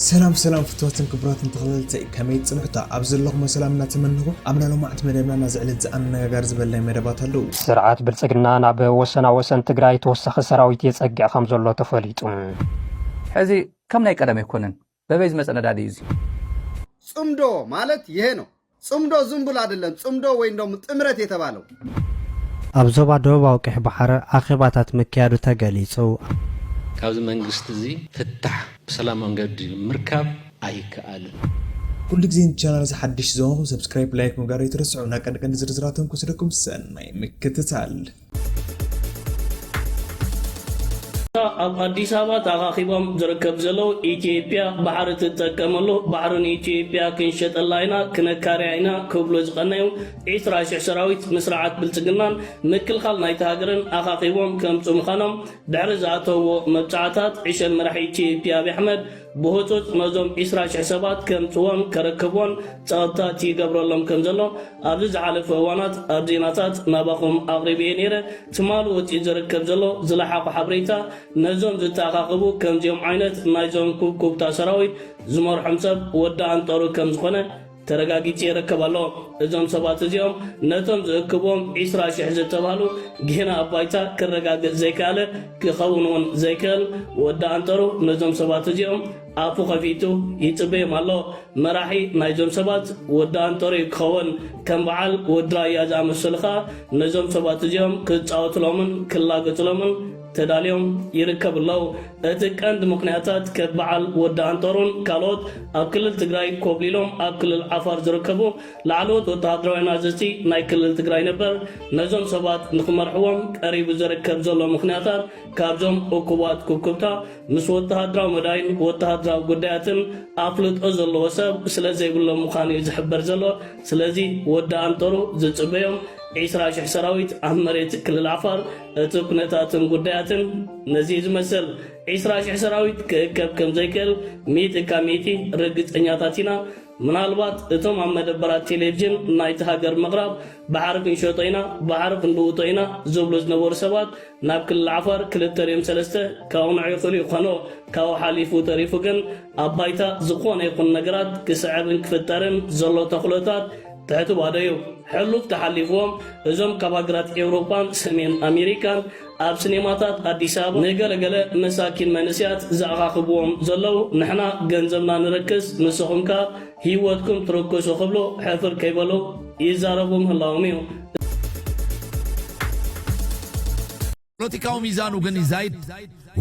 ሰላም ሰላም ፍትዋትን ክቡራትን ተኸታተልተይ ከመይ ጽንሑታ ኣብ ዘለኹሞ ሰላም እናተመነኹ ኣብ ናይ ሎማዕንቲ መደብና ናዚ ዕለት ዝኣነጋጋሪ ዝበልናይ መደባት ኣለዉ። ስርዓት ብልፅግና ናብ ወሰና ወሰን ትግራይ ተወሳኺ ሰራዊት የፀግዕ ከም ዘሎ ተፈሊጡ። ሕዚ ከም ናይ ቀደም ኣይኮነን በበይ ዝመፀ ነዳዲ እዩ እዚ። ፅምዶ ማለት ይሄ ነው ጽምዶ ዝምቡል ኣደለም ጽምዶ ወይም ደሞ ጥምረት የተባለው። ኣብ ዞባ ደቡባዊ ቀይሕ ባሕሪ ኣኼባታት ምክያዱ ተገሊጹ። ካብዚ መንግስቲ እዚ ፍታሕ ብሰላማዊ መንገዲ ምርካብ ኣይከኣልን። ኩሉ ግዜ ን ቻናል እዚ ሓድሽ ዝኮንኩም ሰብስክራይብ ላይክ ምግባር ኣይትረስዑ ን ቀንዲ ቀንዲ ዝርዝራት ተንኩስ ኢልኩም ሰናይ ምክትታል። እታ ኣብ ኣዲስ ኣበባ ተኣኻኺቦም ዝርከብ ዘለዉ ኢትዮጵያ ባሕሪ ትጠቀመሉ ባሕሪ ንኢትዮጵያ ክንሸጠላ ኢና ክነካርያ ኢና ክብሉ ዝቐነዩ ዒስራ ሽሕ ሰራዊት ንስርዓት ብልፅግናን ምክልኻል ናይቲ ሃገርን ኣኻኺቦም ከምፅኡ ምዃኖም ድሕሪ ዝኣተውዎ መብፅዓታት ዕሸል መራሒ ኢትዮጵያ ኣብይ ኣሕመድ ብህጹጽ ነዞም ዒስራ ሽሕ ሰባት ከምጽዎን ከረክቦን ጸቕጥታት ይገብረሎም ከም ዘሎ ኣብዚ ዝሓለፈ እዋናት ኣብ ዜናታት ናባኹም ኣቕሪበ'የ ነይረ። ትማሊ ወጺኡ ዝርከብ ዘሎ ዝለሓኹ ሓበሬታ ነዞም ዝተኣኻኸቡ ከምዚኦም ዓይነት ናይዞም ኩብኩብታ ሰራዊት ዝመርሖም ሰብ ወዲ ኣንጠሩ ከም ዝኾነ ተረጋጊጹ ይርከብ ኣሎ። እዞም ሰባት እዚኦም ነቶም ዝእክብዎም ዕስራ ሽሕ ዝተባህሉ ጌና ኣብ ባይታ ክረጋገጽ ዘይከኣለ ክኸውን እውን ዘይክእል ወዲ ኣንጠሩ ነዞም ሰባት እዚኦም ኣፉ ከፊቱ ይጽበዮም ኣሎ። መራሒ ናይዞም ሰባት ወዲ ኣንጠሩ እዩ ክኸውን። ከም በዓል ወዲ ራያ ዝኣመሰሉ ከኣ ነዞም ሰባት እዚኦም ክጻወትሎምን ክላገጽሎምን ተዳልዮም ይርከቡ ኣለው። እቲ ቀንዲ ምኽንያታት ከብ በዓል ወዲ ኣንጠሩን ካልኦት ኣብ ክልል ትግራይ ኮብሊሎም ኣብ ክልል ዓፋር ዝርከቡ ላዕለዎት ወተሃደራውያን ኣዘዝቲ ናይ ክልል ትግራይ ነበር ነዞም ሰባት ንኽመርሕዎም ቀሪቡ ዝርከብ ዘሎ ምኽንያታት ካብዞም እኩባት ኩብኩብታ ምስ ወተሃደራዊ መዳይን ወተሃደራዊ ጉዳያትን ኣፍልጦ ዘለዎ ሰብ ስለዘይብሎም ምዃኑ እዩ ዝሕበር ዘሎ። ስለዚ ወዲ ኣንጠሩ ዝጽበዮም ዒስራ ሽሕ ሰራዊት ኣብ መሬት ክልል ዓፋር እቲ ኩነታትን ጉዳያትን ነዚ ዝመሰል ዕስራ ሽሕ ሰራዊት ክእከብ ከም ዘይክእል ሚእቲ እካ ሚእቲ ርግጸኛታት ኢና። ምናልባት እቶም ኣብ መደበራት ቴሌቭዥን ናይቲ ሃገር ምቕራብ ባሕሪ ክንሸጦ ኢና፣ ባሕሪ ክንልውጦ ኢና ዝብሉ ዝነበሩ ሰባት ናብ ክልል ዓፋር ክልተ ድዮም ሰለስተ ከቕንዑ ይኽእሉ ይኾኑ። ካብኡ ሓሊፉ ተሪፉ ግን ኣብ ባይታ ዝኾነ ይኹን ነገራት ክስዕብን ክፍጠርን ዘሎ ተኽእሎታት ትሕቲ ባደዩ ሕሉፍ ተሓሊፍዎም እዞም ካብ ሃገራት ኤውሮጳን ሰሜን ኣሜሪካን ኣብ ስኔማታት ኣዲስ ኣበባ ንገለ ገለ መሳኪን መንእስያት ዝኣኻኽብዎም ዘለዉ ንሕና ገንዘብና ንረክስ ንስኹም ከኣ ሂወትኩም ትርክሱ ክብሉ ሕፍር ከይበሉ ይዛረቡ ምህላዎም እዩ። ፖለቲካዊ ሚዛኑ ግን ይዛይድ።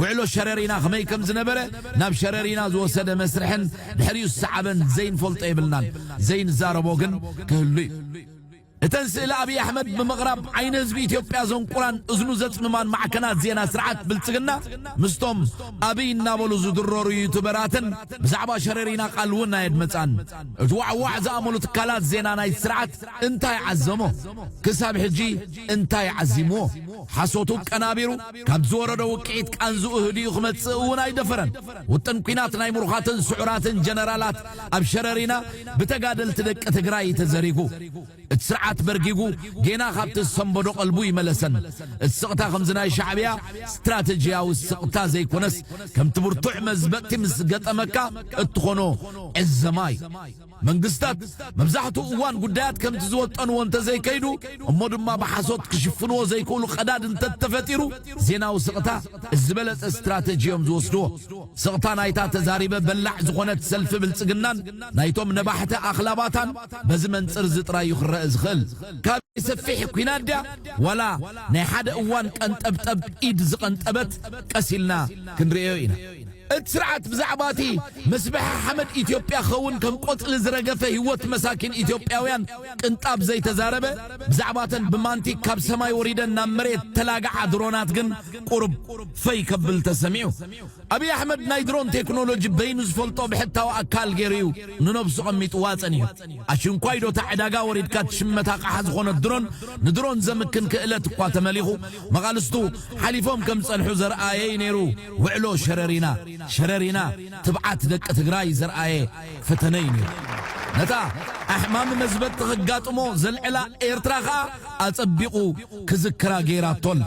ውዕሎ ሸረሪና ከመይ ከም ዝነበረ፣ ናብ ሸረሪና ዝወሰደ መስርሕን ድሕሪኡ ዝሰዓበን ዘይንፈልጦ የብልናን። ዘይንዛረቦ ግን ክህሉ እዩ። እተን ስእሊ ኣብይ ኣሕመድ ብምቕራብ ዓይኒ ህዝቢ ኢትዮጵያ ዘንቁራን እዝኑ ዘጽምማን ማዕከናት ዜና ስርዓት ብልጽግና ምስቶም ኣብይ እናበሉ ዝድረሩ ዩቱበራትን ብዛዕባ ሸረሪና ቃል እውን ኣየድመጻን። እቲ ዋዕዋዕ ዝኣመሉ ትካላት ዜና ናይቲ ስርዓት እንታይ ዓዘሞ? ክሳብ ሕጂ እንታይ ዓዚምዎ? ሓሶቱ ቀናቢሩ፣ ካብ ዝወረዶ ውቅዒት ቃንዝኡ ህዲኡ ክመጽእ እውን ኣይደፈረን። ውጥን ኲናት ናይ ምሩኻትን ስዑራትን ጀነራላት ኣብ ሸረሪና ብተጋደልቲ ደቂ ትግራይ እዩ ተዘሪጉ። እቲ ስርዓት በርጊጉ ጌና ካብቲ ዝሰንበዶ ቀልቡ ይመለሰን። እቲ ስቕታ ከምዚ ናይ ሻዕብያ ስትራተጂያዊ ስቕታ ዘይኮነስ ከምቲ ብርቱዕ መዝበጥቲ ምስ ገጠመካ እትኾኖ ዕዘማ እዩ። መንግስታት መብዛሕትኡ እዋን ጉዳያት ከምቲ ዝወጠንዎ እንተዘይከይዱ እሞ ድማ ብሓሶት ክሽፍንዎ ዘይክእሉ ቀዳድ እንተተፈጢሩ ዜናዊ ስቕታ እቲ ዝበለጸ ስትራተጂ እዮም ዝወስድዎ። ስቕታ ናይታ ተዛሪበ በላዕ ዝኾነት ሰልፊ ብልጽግናን ናይቶም ነባሕቲ ኣኽላባታን በዚ መንጽር እዚ ጥራይ እዩ ክረእ ዝኽእል። ካበይ ሰፊሕ ኩናት ድያ ዋላ ናይ ሓደ እዋን ቀንጠብጠብ ኢድ ዝቐንጠበት ቀስ ኢልና ክንርእዮ ኢና። እቲ ስርዓት ብዛዕባ እቲ ምስብሐ ሓመድ ኢትዮጵያ ክኸውን ከም ቆፅሊ ዝረገፈ ህይወት መሳኪን ኢትዮጵያውያን ቅንጣብ ዘይተዛረበ፣ ብዛዕባ እተን ብማንቲግ ካብ ሰማይ ወሪደን ናብ መሬት ዝተላግዓ ድሮናት ግን ቁሩብ ፈይ ከብል ተሰሚዑ። ኣብይ ኣሕመድ ናይ ድሮን ቴክኖሎጂ በይኑ ዝፈልጦ ብሕታዊ ኣካል ገይሩ እዩ ንነብሱ ቐሚጥዋ ፀኒሑ። ኣሽንኳይ ዶ እታ ዕዳጋ ወሪድካ ትሽመት ኣቕሓ ዝኾነት ድሮን ንድሮን ዘምክን ክእለት እኳ ተመሊኹ መቓልስቱ ሓሊፎም ከም ዝፀንሑ ዘርኣየ እዩ ነይሩ። ውዕሎ ሸረሪና ሸረሪና ትብዓት ደቂ ትግራይ ዘርኣየ ፈተነ እዩ ነይሩ። ነታ ኣሕማሚ መዝበጢ ከጋጥሞ ዘልዕላ ኤርትራ ከኣ ኣጸቢቑ ክዝክራ ገይራቶ ኣላ።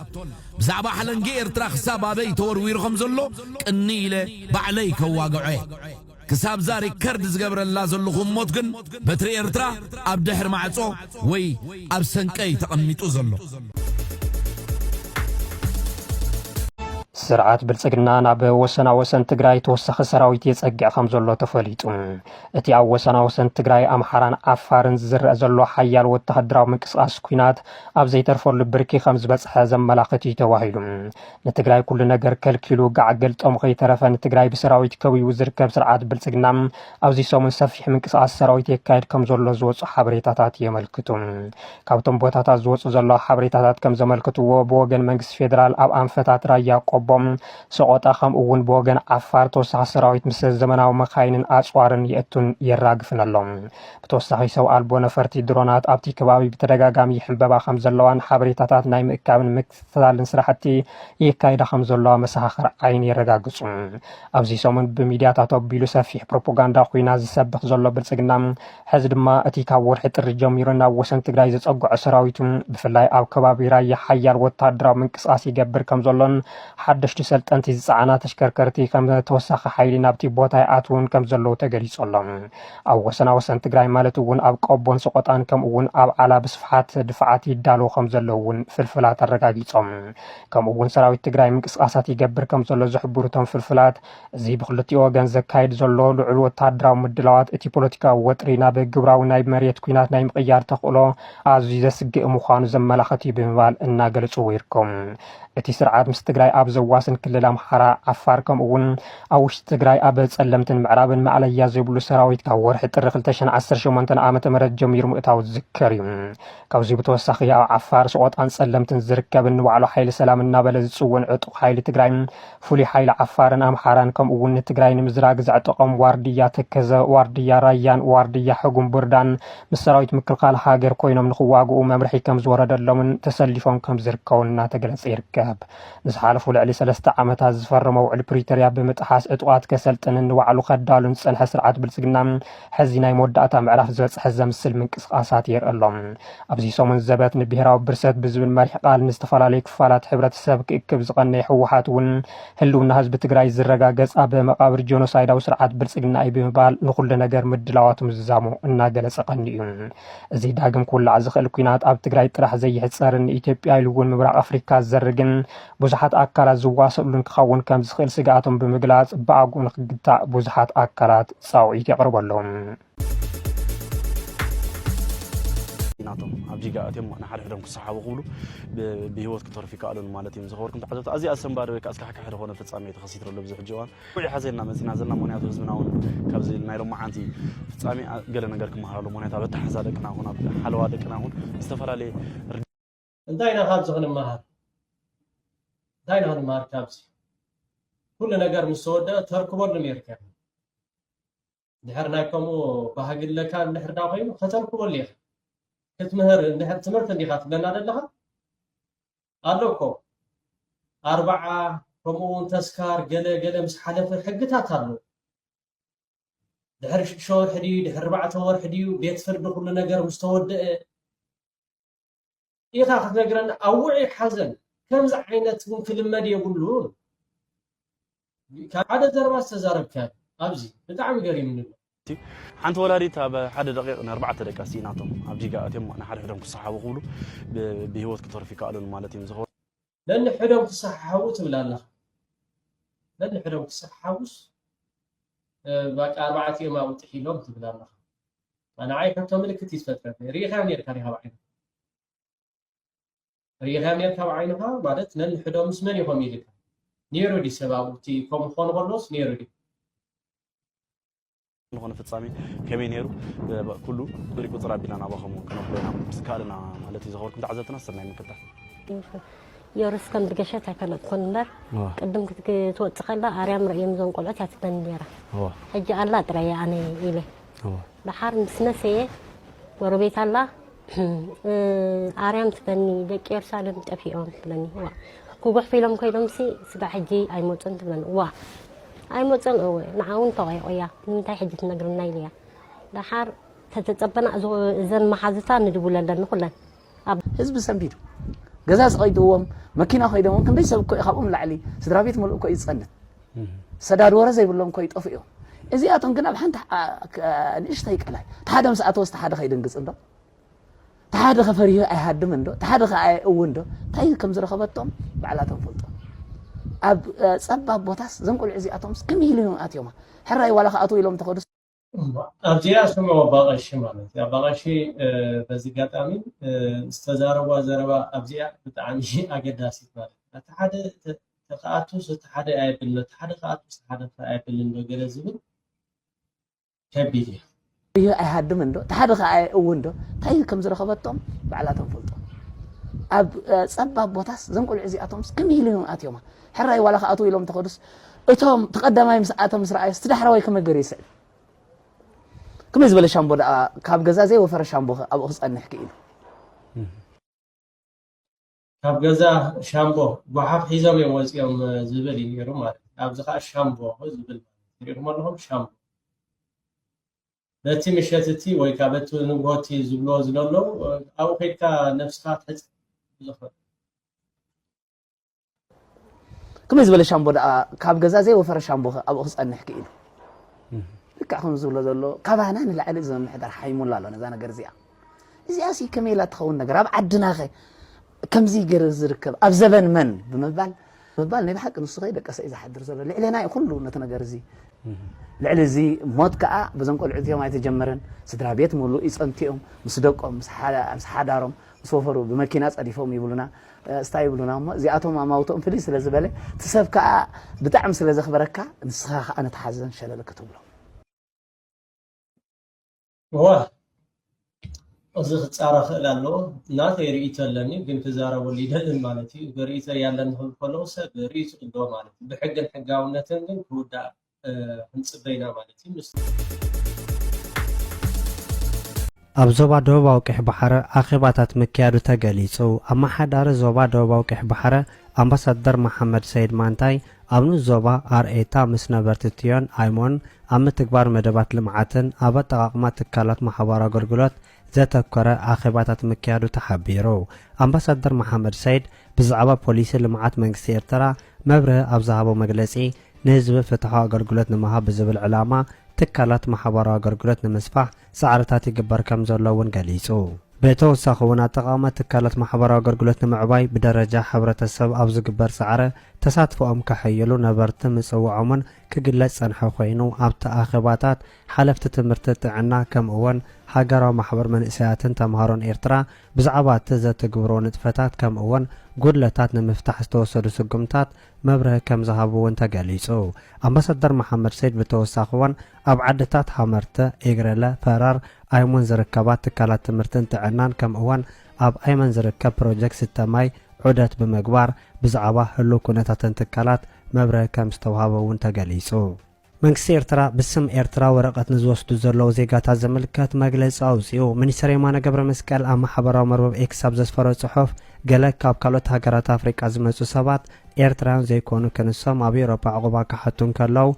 ብዛዕባ ሓለንጊ ኤርትራ ክሳብ ኣበይ ተወርዊሩ ከም ዘሎ ቅንይ ኢለ ባዕለይ ከዋግዖ እየ። ክሳብ'ዛ ሪከርድ ዝገብረላ ዘለኹ እሞት ግን በትሪ ኤርትራ ኣብ ድሕሪ ማዕጾ ወይ ኣብ ሰንቀ'ዩ ተቐሚጡ ዘሎ። ስርዓት ብልፅግና ናብ ወሰናወሰን ትግራይ ተወሳኺ ሰራዊት የፀግዕ ከም ዘሎ ተፈሊጡ። እቲ ኣብ ወሰናወሰን ትግራይ ኣምሓራን ዓፋርን ዝዝረእ ዘሎ ሓያል ወተሃደራዊ ምንቅስቓስ ኲናት ኣብ ዘይተርፈሉ ብርኪ ከም ዝበፅሐ ዘመላኽት እዩ ተባሂሉ። ንትግራይ ኩሉ ነገር ከልኪሉ ጋዕ ገልጦም ከይተረፈ ንትግራይ ብሰራዊት ከቢቡ ዝርከብ ስርዓት ብልፅግና ኣብዚ ሰሙን ሰፊሕ ምንቅስቓስ ሰራዊት የካየድ ከም ዘሎ ዝወፁ ሓበሬታታት የመልክቱ። ካብቶም ቦታታት ዝወፁ ዘሎ ሓበሬታታት ከም ዘመልክትዎ ብወገን መንግስቲ ፌዴራል ኣብ ኣንፈታት ራያ ቆቦም ሰቆጣ ከምኡ እውን ብወገን ዓፋር ተወሳኺ ሰራዊት ምስ ዘመናዊ መካይንን ኣፅዋርን የእቱን የራግፍን ኣሎ። ብተወሳኺ ሰብ ኣልቦ ነፈርቲ ድሮናት ኣብቲ ከባቢ ብተደጋጋሚ ይሕንበባ ከም ዘለዋን ሓበሬታታት ናይ ምእካብን ምክስ ዝተላልን ስራሕቲ የካይዳ ከም ዘለዋ መሰኻኽር ዓይኒ የረጋግፁ። ኣብዚ ሰሙን ብሚድያታት ኣቢሉ ሰፊሕ ፕሮፓጋንዳ ኩናት ዝሰብኽ ዘሎ ብልፅግና ሕዚ ድማ እቲ ካብ ወርሒ ጥሪ ጀሚሩ ናብ ወሰን ትግራይ ዘፀግዖ ሰራዊቱ ብፍላይ ኣብ ከባቢ ራያ ሓያል ወታደራዊ ምንቅስቓስ ይገብር ከም ዘሎን ሓደሽቲ ሰልጠንቲ ዝፀዓና ተሽከርከርቲ ከም ተወሳኺ ሓይሊ ናብቲ ቦታ ይኣትውን ከም ዘለዉ ተገሊፁ ኣሎ። ኣብ ወሰና ወሰን ትግራይ ማለት እውን ኣብ ቆቦን ሰቆጣን ከምኡ እውን ኣብ ዓላ ብስፍሓት ድፋዓት ይዳለዉ ከም ዘለዉ እውን ፍልፍላት ኣረጋጊፆም። ከምኡ እውን ሰራዊት ትግራይ ምንቅስቓሳት ይገብር ከም ዘሎ ዝሕብሩ እቶም ፍልፍላት እዚ ብክልቲኡ ወገን ዘካይድ ዘሎ ልዑል ወተሃደራዊ ምድላዋት እቲ ፖለቲካዊ ወጥሪ ናብ ግብራዊ ናይ መሬት ኩናት ናይ ምቕያር ተኽእሎ ኣዝዩ ዘስግእ ምዃኑ ዘመላኸት እዩ ብምባል እናገለፅዎ ይርከቡ። እቲ ስርዓት ምስ ትግራይ ኣብ ዘዋስን ክልል ኣምሓራ፣ ዓፋር ከምኡ እውን ኣብ ውሽጢ ትግራይ ኣብ ጸለምትን ምዕራብን ማእለያ ዘይብሉ ሰራዊት ካብ ወርሒ ጥሪ 2018 ዓ ም ጀሚሩ ምእታው ዝዝከር እዩ። ካብዚ ብተወሳኺ ኣብ ዓፋር፣ ሰቖጣን ጸለምትን ዝርከብን ንባዕሉ ሓይሊ ሰላም እናበለ ዝጽውዕን ዕጡቕ ሓይሊ ትግራይ ፍሉይ ሓይሊ ዓፋርን ኣምሓራን ከምኡ'ውን ንትግራይ ንምዝራግ ዘዕጠቖም ዋርድያ ተከዘ፣ ዋርድያ ራያን ዋርድያ ሕጉም ብርዳን ምስ ሰራዊት ምክልኻል ሃገር ኮይኖም ንኽዋግኡ መምርሒ ከምዝወረደሎምን ተሰሊፎም ከምዝርከቡን እናተገለፀ ይርከብ። ንዝሓለፉ ልዕሊ ሰለስተ ዓመታት ዝፈረሞ ውዕሊ ፕሪቶርያ ብምጥሓስ ዕጡቓት ከሰልጥንን ንባዕሉ ከዳሉን ዝፀንሐ ስርዓት ብልፅግና ሕዚ ናይ መወዳእታ ምዕራፍ ዝበፅሐ ዘምስል ምንቅስቓሳት የርኢ ኣሎ። ኣብዚ ሰሙን ዘበት ንብሄራዊ ብርሰት ብዝብል መሪሕ ቃል ንዝተፈላለዩ ክፋላት ሕብረተሰብ ክእክብ ዝቐነየ ህወሓት እውን ህልውና ህዝቢ ትግራይ ዝረጋገፅ ኣብ መቓብር ጆኖሳይዳዊ ስርዓት ብልፅግና እዩ ብምባል ንኹሉ ነገር ምድላዋቱ ምዝዛሙ እናገለፀ ቀኒኡ እዚ ዳግም ክውላዕ ዝኽእል ኩናት ኣብ ትግራይ ጥራሕ ዘይሕፀርን ንኢትዮጵያ ኢሉ እውን ምብራቕ ኣፍሪካ ዝዘርግን ብዙሓት ኣካላት ዝዋሰእሉን ክኸውን ከምዝኽእል ስግኣቶም ብምግላፅ ብኣግኡ ንክግታእ ብዙሓት ኣካላት ፃውዒት የቕርቡ ኣለው። ናቶም ኣብ ጂጋ ኣትዮም ንሓድሕዶም ክሰሓቡ ክብሉ ብሂወት ክተርፉ ይከኣሉን ማለት እዮም ዝኸበርኩም ተዓዘብቲ ኣዝዩ ኣሰንባዲ ወይ ከዓ ኣስካሕካሒ ዝኾነ ፍፃሜ ተኸሲቱ ኣሎ ኣብዚ ሕጂ እዋን ውዒ ሓዘና መፂና ዘለና ምክንያቱ ህዝብና እውን ካብዚ ናይ ሎማዓንቲ ፍፃሜ ገለ ነገር ክመሃር ኣሎ ምክንያቱ ኣብ ኣተሓዛ ደቅና ኹን ኣብ ሓለዋ ደቅና ኹን ዝተፈላለየ እንታይ ኢና ካብዚ ክንመሃር እንታይ ኢና ክንመሃር ካብዚ ኩሉ ነገር ምስ ተወደአ ተርክበሉ ነርካ ኢኻ ድሕር ናይ ከምኡ ባህጊ ኣለካ እንድሕር ዳ ኮይኑ ከተርክበሉ ኢኻ ክትምህር እንድሕር ትምህርቲ እንዲኻ ትብለና ዘለኻ ኣሎ እኮ ኣርብዓ ከምኡ እውን ተስካር ገለ ገለ ምስ ሓለፈ ሕግታት ኣሎ ድሕሪ ሽዱሽተ ወርሒ ድዩ ድሕሪ ኣርባዕተ ወርሒ ድዩ ቤት ፍርዲ ኩሉ ነገር ምስ ተወደአ ኢካ ክትነግረና ኣብ ውዑይ ሓዘን ከምዚ ዓይነት ውን ክልመድ የብሉን ካብ ሓደ ዘረባ ዝተዛረብካዮ ኣብዚ ብጣዕሚ ገሪምኒ ኣሎ ሓንቲ ወላዲት ኣብ ሓደ ደቂቕ ንኣርባዕተ ደቃ ስኢናቶም ኣብ ዲጋ ኣትዮም ንሓድሕዶም ክሰሓቡ ክብሉ ብሂወት ክተርፉ ይከኣሉን ማለት እዮም ነንሕዶም ክሰሓሓቡ ትብል ኣለኻ ነንሕዶም ክሰሓሓቡስ ባቃ ኣርባዕቲኦም ኣብኡ ጥሒሎም ትብል ኣለኻ ንዓይ ሕቶ ምልክት እዩ ዝፈጥረኒ ርኢኻ ነርካ ዲኻ ብዓይንኻ ርኢኻ ነርካ ብዓይንኻ ማለት ነንሕዶም ምስ መን ኢኹም ኢልካ ነይሩ ዲ ሰብ ኣብኡ እቲ ከምኡ ክኾኑ ከለዎስ ነይሩ ዲ ንኾነ ፍጻሜ ከመይ ነይሩ ኩሉ ብሪ ቁፅር ኣቢልና ናባኹም ክነብሎ ኢና ዝካልና ማለት እዩ ዘኸበርኩም ተዓዘብትና ሰናይ ምክታል ዮርስ ከም ድገሸት ኣይፈለጥኩን እምበር ቅድም ክትወፅ ከላ ኣርያም ርእዮም እዞም ቆልዑት እያ ትበኒ ነይራ ሕጂ ኣላ ጥራየ ኣነ ኢለ ደሓር ምስ መሰየ ጎረቤት ኣላ ኣርያም ትብለኒ ደቂ የሩሳሌም ጠፊኦም ትብለኒ ዋ ክጉሕፉ ኢሎም ኮይኖምሲ ስጋዕ ሕጂ ኣይመፁን ትብለኒ ዋ ኣይመፁን እወ ንዓ እውን ተቆይቆያ ንምንታይ ሕጂ ትነግርና ኢለያ ደሓር ተተፀበና እዘን መሓዙታ ንድውለለን ንኩለን ህዝቢ ሰንቢዱ ገዛ ሰቂጥዎም መኪና ኮይዶም ክንደይ ሰብ እኮ እዩ ካብኦም ንላዕሊ ስድራ ቤት ሙሉእ እኮ እዩ ዝፀንት ሰዳድ ወረ ዘይብሎም ኮይ ጠፉ እዮም እዚኣቶም ግን ኣብ ሓንቲ ንእሽተይ ቀላይ ተሓደ ምስ ኣተወስ ተሓደ ከይድንግፅ እንዶ ተሓደ ከፈሪሁ ኣይሃድም እንዶ ተሓደ ከ እው እንዶ እንታይ ከም ዝረኸበቶም ባዕላቶም ፈልጦ ኣብ ፀባብ ቦታስ ዘንቆልዑ እዚኣቶምስ ከመይ ኢሉ እዮም ኣትዮማ ሕራይ ዋላ ከኣትው ኢሎም ተኸዱ ኣብዚኣ ስሙ ኣባቐሺ ማለት እዩ ኣባቐሺ በዚ ጋጣሚ ዝተዛረቧ ዘረባ ኣብዚኣ ብጣዕሚ ኣገዳሲት ማለት እዩ እቲ ሓደ ተከኣቱስ እቲ ሓደ ኣየብልን እቲ ሓደ ከኣቱስ እቲ ሓደ ኣየብልን ዶ ገለ ዝብል ከቢድ እዩ እዩ ኣይሃድምን ዶ እቲ ሓደ ከዓ እውን ዶ እንታይ ከም ዝረኸበቶም ባዕላቶም ፈልጦ ኣብ ፀባብ ቦታስ ዘንቆልዑ እዚኣቶምስ ከመይ ኢሉ እዮም ኣትዮማ ሕራይ ዋላ ክኣትዉ ኢሎም እንተኸዱስ እቶም ተቐዳማይ ምስ ኣተ ምስ ረኣዩስ እቲ ዳሕረዋይ ከመይ ገይሩ ይስዕብ ከመይ ዝበለ ሻምቦ ደኣ ካብ ገዛ ዘይወፈረ ሻምቦ ኣብኡ ክጸንሕ ክኢሉ ካብ ገዛ ሻምቦ ጓሓፍ ሒዞም እዮም ወፂኦም ዝብል እዩ ነይሩ ማለት እዩ ኣብዚ ከዓ ሻምቦ ዝብል ትሪእኹም ኣለኹም ሻምቦ በቲ ምሸት እቲ ወይ ከዓ በቲ ንግሆ እቲ ዝብልዎ ዝደለዉ ኣብኡ ከድካ ነብስካ ትሕፅ ዝኽእል ከመይ ዝበለ ሻምቦ ደኣ ካብ ገዛ ዘይወፈረ ሻምቦ ኣብኡ ክጸንሕ ክኢሉ ልክዕ ከም ዝብሎ ዘሎ ካባና ንላዕሊ እዚ ምምሕዳር ሓይሙላ ኣሎ ነዛ ነገር እዚኣ እዚኣ ሲ ከመይ ኢላ ትኸውን ነገር ኣብ ዓድናኸ ከምዚ ገይሩ ዝርከብ ኣብ ዘበን መን ብምባል ምባል ናይ ብሓቂ ንሱ ከይ ደቀሰ እዩ ዝሓድር ዘሎ ልዕሌና እዩ ኩሉ ነቲ ነገር እዚ ልዕሊ እዚ ሞት ከዓ በዞም ቆልዑ እዚኦም ኣይተጀመረን ስድራ ቤት ምሉእ ይፀንቲኦም ምስ ደቆም ምስ ሓዳሮም ምስ ወፈሩ ብመኪና ፀዲፎም ይብሉና እስታ ይብሉና እሞ እዚኣቶም ኣማውትኦም ፍልይ ስለ ዝበለ እቲ ሰብ ከኣ ብጣዕሚ ስለ ዘኽበረካ ንስኻ ከኣ ነቲ ሓዘን ሸለል ክትብሎ። እዋ እዚ ክጻረ ክእል ኣለዎ ናተይ ርእይቶ ኣለኒ ግን ክዛረበሉ ይደልን ማለት እዩ ርእይቶ ያለን ክብል ከለኩ ሰብ ርእይቶ ኣለዎ ማለት እዩ ብሕግን ሕጋውነትን ግን ክውዳእ ክንፅበ ኢና ማለት እዩ። ኣብ ዞባ ደቡባዊ ቀይሕ ባሕረ ኣኼባታት ምክያዱ ተገሊጹ። ኣመሓዳሪ ዞባ ደቡባዊ ቀይሕ ባሕረ ኣምባሳደር መሓመድ ሰይድ ማንታይ፣ ኣብ ንኡስ ዞባ ኣርኤታ ምስ ነበርቲ ትዮን ኣይሞን ኣብ ምትግባር መደባት ልምዓትን ኣብ ኣጠቓቕማ ትካላት ማሕበራዊ ኣገልግሎት ዘተኮረ ኣኼባታት ምክያዱ ተሓቢሩ። ኣምባሳደር መሓመድ ሰይድ ብዛዕባ ፖሊሲ ልምዓት መንግስቲ ኤርትራ መብርሂ ኣብ ዝሃቦ መግለጺ፣ ንህዝቢ ፍትሓዊ ኣገልግሎት ንምሃብ ብዝብል ዕላማ ትካላት ማሕበራዊ ኣገልግሎት ንምስፋሕ ጻዕርታት ይግበር ከምዘሎ'ውን ገሊጹ። ብተወሳኺ'ውን ኣጠቓቕማ ትካላት ማሕበራዊ ኣገልግሎት ንምዕባይ ብደረጃ ሕብረተሰብ ኣብ ዝግበር ጻዕሪ ተሳትፎኦም ከሐይሉ ነበርቲ ምጽውዖም'ውን ክግለጽ ዝጸንሐ ኮይኑ፣ ኣብቲ ኣኼባታት ሓለፍቲ ትምህርቲ ጥዕና ከምኡወን ሃገራዊ ማሕበር መንእሰያትን ተምሃሮን ኤርትራ ብዛዕባ እቲ ዘትግብርዎ ንጥፈታት ከምኡወን ጉድለታት ንምፍታሕ ዝተወሰዱ ስጉምታት መብርሂ ከምዝሃቡ እውን ተገሊጹ። ኣምባሳደር መሓመድ ሰይድ ብተወሳኺወን ኣብ ዓድታት ሃመርተ፣ ኤግረለ፣ ፈራር ኣይሙን ዝርከባ ትካላት ትምህርትን ጥዕናን ከምኡወን ኣብ ኣይመን ዝርከብ ፕሮጀክት ስተ ማይ ዑደት ብምግባር ብዛዕባ ህሉው ኩነታተን ትካላት መብርሂ ከምዝተውሃበ እውን ተገሊጹ። መንግስቲ ኤርትራ ብስም ኤርትራ ወረቐት ንዝወስዱ ዘለዉ ዜጋታት ዝምልከት መግለጺ ኣውጺኡ። ሚኒስተር የማነ ገብረመስቀል ኣብ ማሕበራዊ መርበብ ኤክስ ኣብ ዘስፈሮ ጽሑፍ፣ ገለ ካብ ካልኦት ሃገራት ኣፍሪቃ ዝመጹ ሰባት ኤርትራውያን ዘይኮኑ ክንሶም ኣብ ኤውሮጳ ዑቕባ ክሓቱ እንከለዉ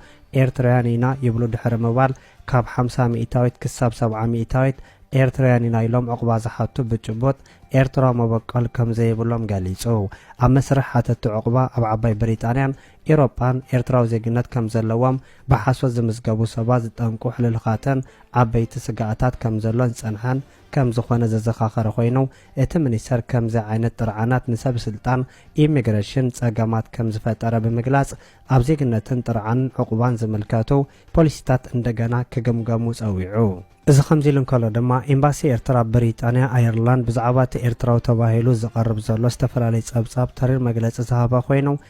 ኤርትራውያን ኢና ይብሉ ድሕሪ ምባል ካብ ሓምሳ ሚኢታዊት ክሳብ ሰብዓ ሚኢታዊት ኤርትራውያን ኢና ኢሎም ዑቕባ ዝሓቱ ብጭቡጥ ኤርትራዊ መበቆል ከምዘይብሎም ገሊጹ። ኣብ መስርሕ ሓተቲ ዑቕባ ኣብ ዓባይ ብሪጣንያን ኤሮጳን ኤርትራዊ ዜግነት ከም ዘለዎም ብሓሶት ዝምዝገቡ ሰባት ዝጠንቁ ሕልልኻትን ዓበይቲ ስጋኣታት ከም ዘሎን ዝጸንሐን ከም ዝኾነ ዘዘኻኸረ ኮይኑ፣ እቲ ሚኒስተር ከምዚ ዓይነት ጥርዓናት ንሰብስልጣን ኢሚግረሽን ጸገማት ከም ዝፈጠረ ብምግላጽ፣ ኣብ ዜግነትን ጥርዓንን ዑቕባን ዝምልከቱ ፖሊሲታት እንደገና ክግምገሙ ጸዊዑ። እዚ ከምዚ ኢሉ እንከሎ ድማ፣ ኤምባሲ ኤርትራ ኣብ ብሪጣንያ፣ ኣየርላንድ፣ ብዛዕባ እቲ ኤርትራዊ ተባሂሉ ዝቐርብ ዘሎ ዝተፈላለየ ጸብጻብ ተሪር መግለጺ ዝሃበ ኮይኑ፣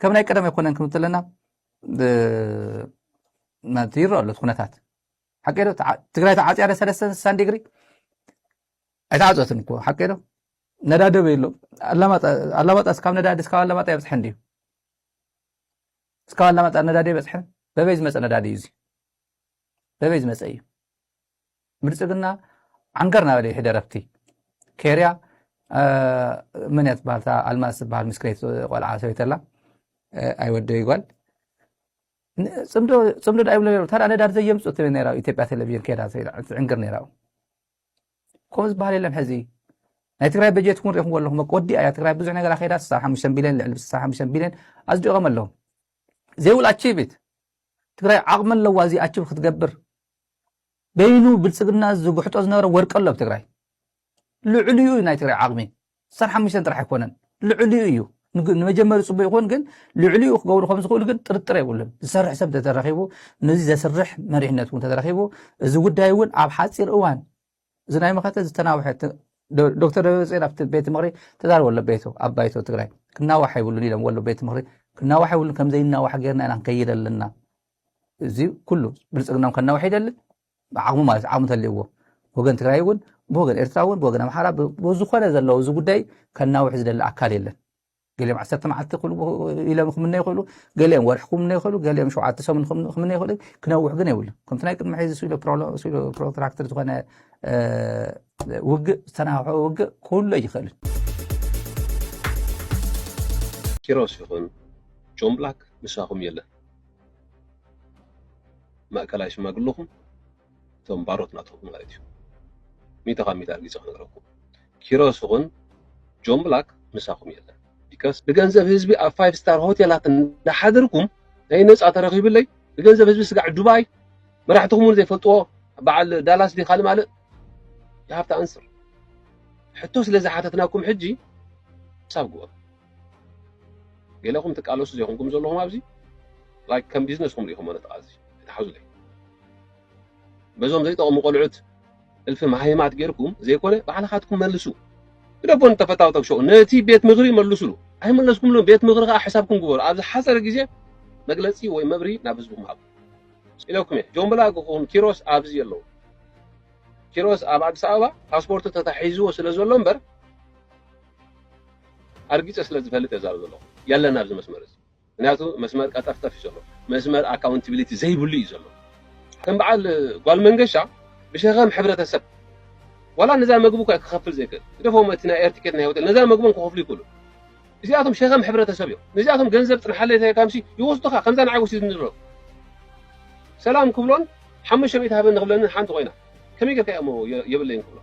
ከም ናይ ቀደም ኣይኮነን ክንብል ተለና ማለት ይረአ ኣሎ ኩነታት ሓቂ ዶ ትግራይ ተዓፅያ ደ ሰለስተ ስሳን ዲግሪ ኣይተዓፀትን እኮ ሓቂ ዶ ነዳዲ በይሎ ኣላማጣ እስካብ ነዳዲ እስካብ ኣላማጣ የብፅሐን ድዩ እስካብ ኣላማጣ ነዳዲ የበፅሐን በበይ ዝመፀ ነዳዲ እዩ እዚ በበይ ዝመፀ እዩ ብልፅግና ዓንገር ናበለ ይሕደር ኣብቲ ኬርያ መን እያ ትበሃል እታ ኣልማዝ ትበሃል ምስክነይቲ ቆልዓ ሰበይቲ ኣላ ኣይ ወደይ ጓል ፅምዶ ፅምዶ ዳ ይብሉ ነሩ ታዳ ነዳድ ዘየምፁ ትብል ነራ ኢትዮጵያ ቴሌቪዥን ከዳ ትዕንግር ነራ ከምኡ ዝበሃል የለን ሕዚ ናይ ትግራይ በጀት እውን ሪኹም ኣለኹም ወዲ ኣያ ትግራይ ብዙሕ ነገር ኣኼዳ 65 ቢልዮን ልዕሊ 65 ቢልዮን ኣፅዲቖም ኣለዎም ዘይብላ ቺቢት ትግራይ ዓቕሚ ኣለዋ እዚ ኣቺብ ክትገብር በይኑ ብልፅግና ዝጉሕጦ ዝነበረ ወርቂ ኣሎ ኣብ ትግራይ ልዕሊኡ እዩ ናይ ትግራይ ዓቕሚ ዓሰርተ ሓሙሽተ ጥራሕ ኣይኮነን ልዕሊኡ እዩ ንመጀመሪ ፅቡቅ ይኹን ግን ልዕሊኡ ክገብሩ ከም ዝኽእሉ ግን ጥርጥር የብሉን ዝሰርሕ ሰብ ተተረኺቡ ነዚ ዘስርሕ መሪሕነት እውን ተተረኺቡ እዚ ጉዳይ እውን ኣብ ሓፂር እዋን እዚ ናይ መኸተ ዝተናውሐ ዶክተር ደብረፅዮን ኣብቲ ቤት ምክሪ ተዛረበ ኣሎ ቤቱ ኣብ ባይቶ ትግራይ ክናዋሕ ይብሉን ኢሎም ወሎ ቤት ምክሪ ክናዋሕ ይብሉን ከምዘይናዋሕ ጌርና ኢና ክንከይድ ኣለና እዚ ኩሉ ብልፅግናም ከናውሕ ይደሊ ዓቕሙ ማለት ዓቕሙ ተልእዎ ወገን ትግራይ እውን ብወገን ኤርትራ እውን ብወገን ኣምሓራ ብዝኾነ ዘለዉ እዚ ጉዳይ ከናውሕ ዝደሊ ኣካል የለን ገሊኦም ዓሰርተ መዓልቲ ኢሎም ክምነ ይኽእሉ ገሊኦም ወርሒ ክምነ ይኽእሉ ገሊኦም ሸውዓተ ሰሙን ክምነ ይኽእሉ ክነውሕ ግን የብሉ ከምቲ ናይ ቅድሚ ሕዚ ስኢሎ ፕሮትራክተር ዝኾነ ውግእ ዝተናውሐ ውግእ ክህሎ ይኽእልን ኪሮስ ይኹን ጆን ብላክ ምሳኹም የለን ማእከላይ ሽማግለኹም እቶም ባሮት ናትኹም ማለት እዩ ሚእቲ ካብ ሚእቲ ኣርጊፀ ክነግረኩም ኪሮስ ይኹን ጆን ብላክ ምሳኹም የለን ቢካስ ብገንዘብ ህዝቢ ኣብ ፋይቭ ስታር ሆቴላት እንዳሓደርኩም ናይ ነፃ ተረኺብለይ ብገንዘብ ህዝቢ ስጋዕ ዱባይ መራሕትኹም እውን ዘይፈልጥዎ በዓል ዳላስ ዲ ካልእ ማልእ የሃብቲ ኣንስር ሕቶ ስለ ዝሓተትናኩም ሕጂ ሳብ ግበሩ ገለኹም ትቃለሱ ዘይኮንኩም ዘለኹም ኣብዚ ላይክ ከም ቢዝነስኩም ሪኢኹም ነጥቓ እዚ ተሓዙለይ በዞም ዘይጠቕሙ ቆልዑት እልፊ መሃይማት ጌርኩም ዘይኮነ ባዕልኻትኩም መልሱ ግደፎን ተፈታውተው ሸው ነቲ ቤት ምኽሪ መልሱሉ ኣይመለስኩምሉ ቤት ምኽሪ ከዓ ሕሳብኩም ግበሩ ኣብ ዝሓፀረ ግዜ መግለፂ ወይ መብሪ ናብ ህዝብኩም ሃቡ ኢለኩም እየ ጆምብላ ክኹን ኪሮስ ኣብዚ የለው ኪሮስ ኣብ ኣዲስ ኣበባ ፓስፖርቱ ተታሒዝዎ ስለ ዘሎ እምበር ኣርጊፀ ስለ ዝፈልጥ እየ ዛብ ዘለኹ የለን ኣብዚ መስመር እዚ ምክንያቱ መስመር ቀጠፍጠፍ እዩ ዘሎ መስመር ኣካውንቲቢሊቲ ዘይብሉ እዩ ዘሎ ከም በዓል ጓል መንገሻ ብሸኸም ሕብረተሰብ ዋላ ነዛ መግቢ እኳ ክኸፍል ዘይክእል ግደፎም እቲ ናይ ኤርቲኬት ናይ ሆቴል ነዛ መግቦም ክኸፍሉ ይክእሉ እዚኣቶም ሸኸም ሕብረተሰብ እዮም ነዚኣቶም ገንዘብ ፅንሓለይ ተካምሲ ይወስዱኻ ከምዛ ንዓይ ወሲድኒ ዘሎ ሰላም ክብሎን ሓሙሽተ ሚእቲ ሃበኒ ክብለንን ሓንቲ ኮይና ከመይ ጌርካ እሞ የብለይን ክብሎ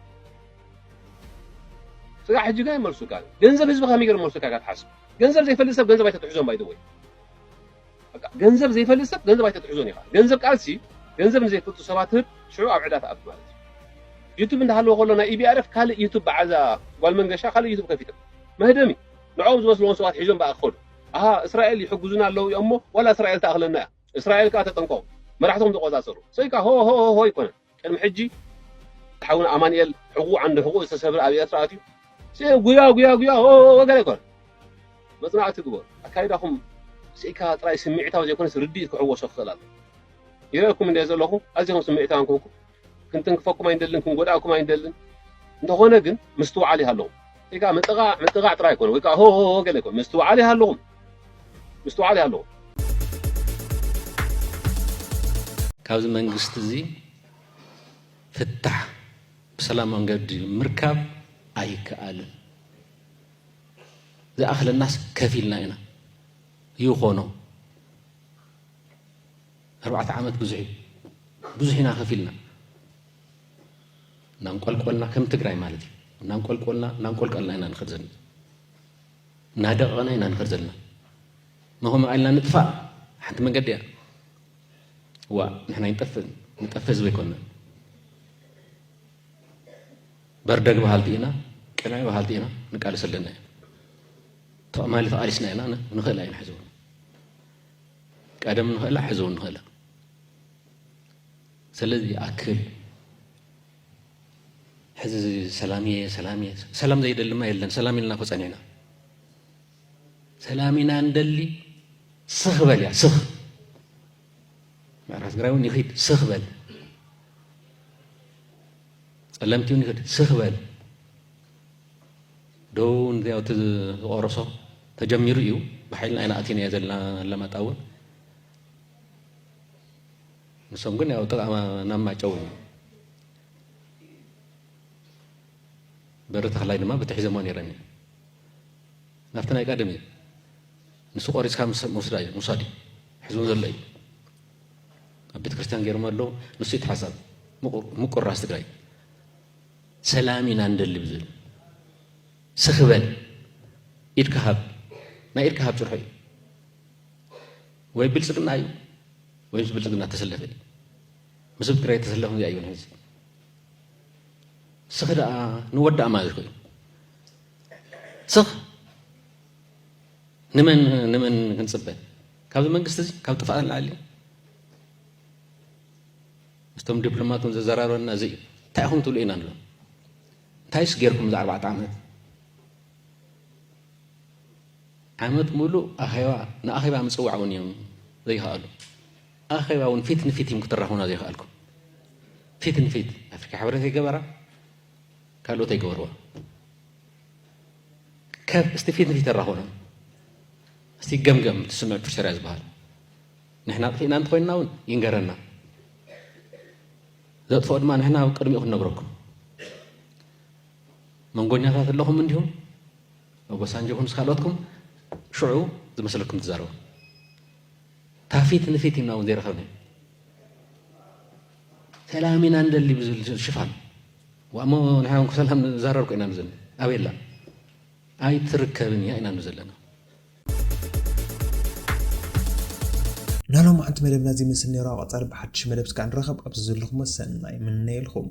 ስጋ ሕጂ ግን መልሱካ ገንዘብ ህዝቢ ከመይ ጌር መልሱካ ኢካ ትሓስብ ገንዘብ ዘይፈልጥ ሰብ ገንዘብ ኣይተትሕዞን ባይ ዘ ወይ በቃ ገንዘብ ዘይፈልጥ ሰብ ገንዘብ ኣይተትሕዞን ኢኻ ገንዘብ ቃልሲ ገንዘብ ንዘይፈልጡ ሰባት ህብ ሽዑ ኣብ ዕዳ ትኣቱ ማለት እዩ ዩቱብ እንዳሃለወ ከሎ ናይ ኢቢኣርፍ ካልእ ዩቱብ በዓዛ ጓል መንገሻ ካልእ ዩቱብ ከፊቶም መህደሚ ንዕኦም ዝመስልዎም ሰባት ሒዞም በኣ ክኸዱ ኣሃ እስራኤል ይሕግዙና ኣለዉ እዮም እሞ ዋላ እስራኤል ተኣኽለና እያ እስራኤል ከዓ ተጠንቀቑ መራሕቶም ተቆፃፀሩ ሰይካ ሆ ሆ ሆ ኣይኮነን ቅድሚ ሕጂ ሓውና ኣማኒኤል ሕቁኡ ዓንዲ ሕቁኡ ዝተሰብረ ኣብ ኤርትራ ኣትዩ ስኤ ጉያ ጉያ ጉያ ኦኦኦ ገለ ይኮን መጽናዕቲ ግበሩ ኣካይዳኹም ስኢካ ጥራይ ስምዒታዊ ዘይኮነስ ርድኢት ክሕወሶ ክኽእል ኣሎ ይረአኩም እንደ ዘለኹ ኣዚኹም ስምዒታውያን ኮንኩም ክንትንክፈኩም ኣይንደልን ክንጎድኣኩም ኣይንደልን እንተኾነ ግን ምስትውዓል ይሃለዉ ጌጋ ምጥቓዕ ምጥቓዕ ጥራይ ኣይኮነን ወይ ከኣ ሆሆሆ ገለ ኣይኮነን ምስትውዓል ይሃልኹም ምስትውዓል ይሃልኹም። ካብዚ መንግስቲ እዚ ፍታሕ ብሰላም መንገዲ ምርካብ ኣይከኣልን። ዝኣኽለናስ ከፊልና ኢና ይኾኖ ኣርባዕተ ዓመት ብዙሕ እዩ ብዙሕ ኢና ከፊልና እናንቆልቆልና ከም ትግራይ ማለት እዩ እናንቆልቆልና እናንቆልቀልና ኢና ንኸድ ዘለና እናደቐና ኢና ንኸድ ዘለና መኸምኡ ኣልና ንጥፋእ ሓንቲ መንገዲ እያ ዋ ንሕና ይንጠፍእ ንጠፍእ ህዝቢ ኣይኮንና በርደግ በሃልቲ ኢና ቅናይ በሃልቲ ኢና ንቃልስ ኣለና እዩ ተቐማሊ ተቓሊስና ኢና ንኽእል ኣይንሕዝቦ ቀደም ንኽእላ ሕዚ እውን ንኽእላ ሰለዚ ይኣክል ሕዚ ሰላም እየ ሰላም እየ ሰላም ዘይደልማ የለን ሰላም ኢልና እኮ ፀኒዕና ሰላም ኢና እንደሊ ስኽ በል እያ ስኽ ምዕራብ ትግራይ እውን ይኽድ ስኽ በል ፀለምቲ እውን ይኽድ ስኽ በል ዶ ንዚያው እቲ ዝቆረሶ ተጀሚሩ እዩ ብሓይልና ኢና ኣቲናዮ ዘለና ኣለማጣ እውን ንሶም ግን ያው ጥቃ ናብ ማጨው እዩ በሪ ተክላይ ድማ ብትሒዘሞ ነይረን እዩ ናብቲ ናይ ቀደም እዩ ንሱ ቆሪፅካ ምውስዳ እዩ ምውሳድ እዩ ሕዝቡ ዘሎ እዩ ኣብ ቤተ ክርስቲያን ገይሮም ኣሎ ንሱ ይተሓሳብ ምቁራስ ትግራይ ሰላም ኢና ንደሊ ብዝብል ስኽ በል ኢድካ ሃብ ናይ ኢድካ ሃብ ጭርሖ እዩ ወይ ብልፅግና እዩ ወይ ምስ ብልፅግና ተሰለፈ እዩ ምስ ህዝቢ ትግራይ ተሰለፈ እዚኣ ይብል ህዝቢ ስኽ ደኣ ንወዳእ ማለት እዩ ስኽ ንመን ንመን ክንፅበ ካብዚ መንግስቲ እዚ ካብ ጥፋእ ንላዕሊ ምስቶም ዲፕሎማት እውን ዘዘራረበና እዚ እዩ እንታይ ኢኹም ትብሉ ኢና ንብሎም እንታይስ ጌርኩም እዚ ኣርባዕተ ዓመት ዓመት ሙሉእ ኣኼባ ንኣኼባ ምፅዋዕ እውን እዮም ዘይከኣሉ ኣኼባ እውን ፊት ንፊት እዮም ክትራኹና ዘይከኣልኩም ፊት ንፊት ኣፍሪካ ሕብረት ኣይገበራ ካልኦት ኣይገበርዋ ከፍ እስቲ ፊት ንፊት ኣራኹና እስቲ ገምገም ትስምዕ ፕሪቶርያ ዝበሃል ንሕና ኣጥፊእና እንተኾይንና ውን ይንገረና ዘጥፍኦ ድማ ንሕና ኣብ ቅድሚኡ ክንነግረኩም መንጎኛታት ኣለኹም እንዲኹም መጎሳንጆ ይኹን ስካልኦትኩም ሽዑ ዝመስለኩም ትዛረቡ ታፊት ንፊት ኢና እውን ዘይረኸብኒ ሰላም ኢና ንደሊ ብዝብል ሽፋን ዋእሞ ንሕና ሰላም ንዛረብ ኮይና ንዘኒ ኣበየላ ኣይትርከብን እያ ኢና ንዘለና ናይ ሎምዓንቲ መደብና እዚ ይመስል ነይሩ ኣብ ቐፃሊ ብሓዱሽ መደብ እስከ ንራኸብ ኣብዚ ዘለኹሞ ሰናይ ይምነየልኹም።